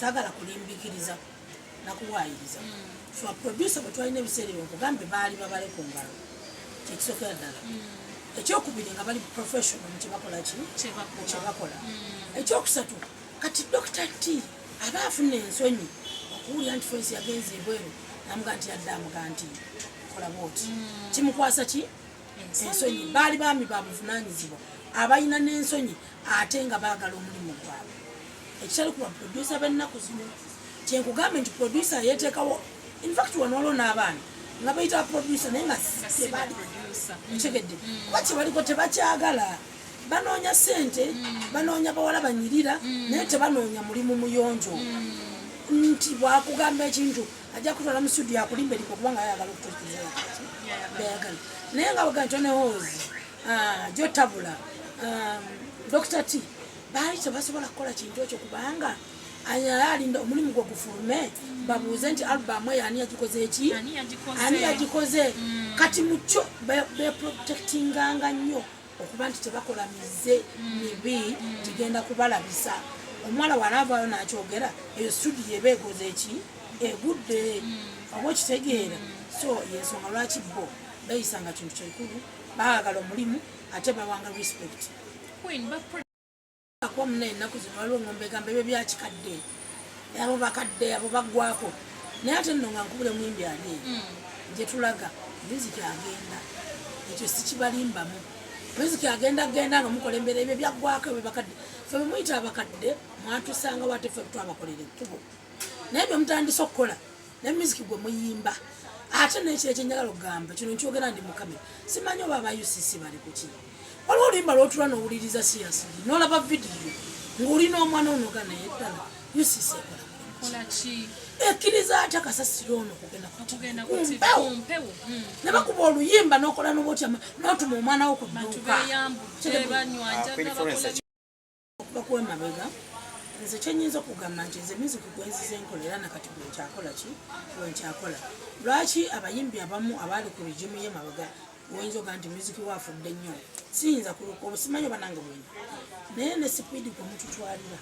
sagala kulimbikiriza nakuwayiriza mm. so aproducer bwetwalina ebiseera ebyo nkugambe baali babale ku ngalo kyekisokera ddala mm. ekyokubiri nga bali professional mukyebakola ki kyebakola mm. ekyokusatu kati dokita t aba afuna ensonyi okuwulira nti fensi yagenza ebweru namuga nti yadde amuga nti kola bwoti kimukwasa ki ensonyi baali baami babuvunanyizibwa abalina n'ensonyi ate nga baagala omulimu gwabwe ekitali kuba producer bennaku zino kyenkugambe nti producer yeteekawo infact wano waliwo n'abaana nga bayita producer naye nga tebali ntegedde mm. kuba kyebaliko tebakyagala banoonya sente mm. banoonya bawala banyirira mm. naye tebanoonya mulimu muyonjo nti bwakugamba ekintu ajja kutwala mu studio akulimba eriko kubanga ayagala okutuukiriza yakati beyagala naye nga bwegantyo ne hoozi Ah, jo tabula um, dr t baali tebasobola kukola kintu ekyo kubanga ayalinda omulimu gwe gufulume babuuze nti albamu eyo ani yagikoze eki ani yagikoze mm. kati mukyo beprotectinganga nnyo okuba nti tebakola mize mm. mibi mm. gigenda kubalabisa omuwala walaavaayo nakyogera eyo studio eba egoze eki egudde oba okitegeera so yensonga lwaki bo bayisanga kintu kyekulu baagala omulimu ate bawanga respect akuba muna ennaku zino waliwo ngombe egamba ebyo byakikadde abo bakadde abo baggwako naye ate nno nga nkubule muyimbi ani hmm. gyetulaga miziki agenda ekyo sikibalimbamu miziki agenda agenda nga mukola embeera ebyo byaggwako ebyo bakadde fe bemuyita abakadde mwatusanga wate fe twabakolera ekkubo naye byemutandise okukola ne music gwe muyimba ate nekyo ekyenjagala okugamba kino nkyogera ndi mukamera simanyi oba aba ucc bali kuki waliwo oluyimba lwotula nowuliriza siyasi nolaba vidiyo ng'olina omwana onoga naye ddala ucc ekolaki ekkiriza atya kasasiro ono kugenda kumpewo hmm. ne bakuba oluyimba nokola nobotyama notuma omwana wo ku dduuka okuva kuwa emabega nze kyenyinza okugamba nti nze music gwenzize enkola era nakati gwenkyakola ki gwenkyakola lwaki abayimbi abamu abaali ku rigimu ye mabega oyinza oga nti music wafudde nnyo siyinza kuluka obusimanyi obanange bwenyi naye ne sipiidi gwemututwalira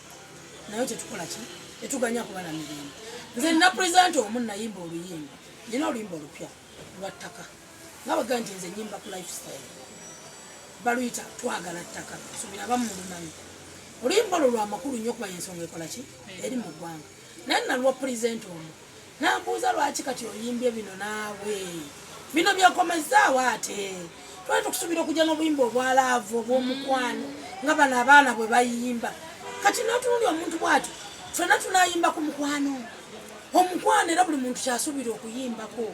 naye tetukola ki tetuganya kubala mirembe nze nina present omu nayimba oluyimba nina oluyimba olupya lwa ttaka nga bagaa nti nze nyimba ku lifestyle baluyita twagala ttaka subira bamu lumanyi oluyimba olwo lwamakulu nnyo okuba yensonga ekola ki eri mu ggwanga naye nalwa pulezidenti omu nambuuza lwaki kati oyimbye bino naawe bino byekomezaawo ate twali tukusuubira okujja n'obuyimba obwa laavu obw'omukwano nga bano abaana bwe bayimba kati n'otunundi omuntu bw'atyo fena tunayimba ku mukwano omukwano era buli muntu kyasuubira okuyimbako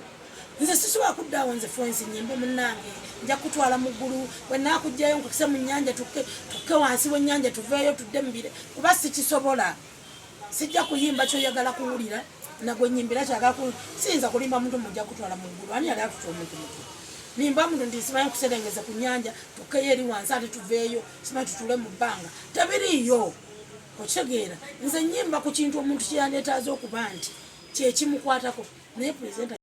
nze sisobola kuddaawo nze fwensi nyimbe munange nja kutwala mu ggulu bwenakugjayo nkukise mu nyanja tukke wansi wenyanja tuveeyo tudde mubire kuba sikisobola sijja kuyimba kyoyagala kuwulira nagwenyimbira kyagala ku siyinza kulimba muntu mujja kutwala mu ggulu ani yali atuta omuntu mutu nimba muntu nti simanyi kuserengeza ku nyanja tukkeyo eri wansi ate tuveeyo simanyi tutule mu bbanga tabiriiyo okitegeera nze nyimba ku kintu omuntu kyeyandetaaza okuba nti kyekimukwatako naye pulezidenti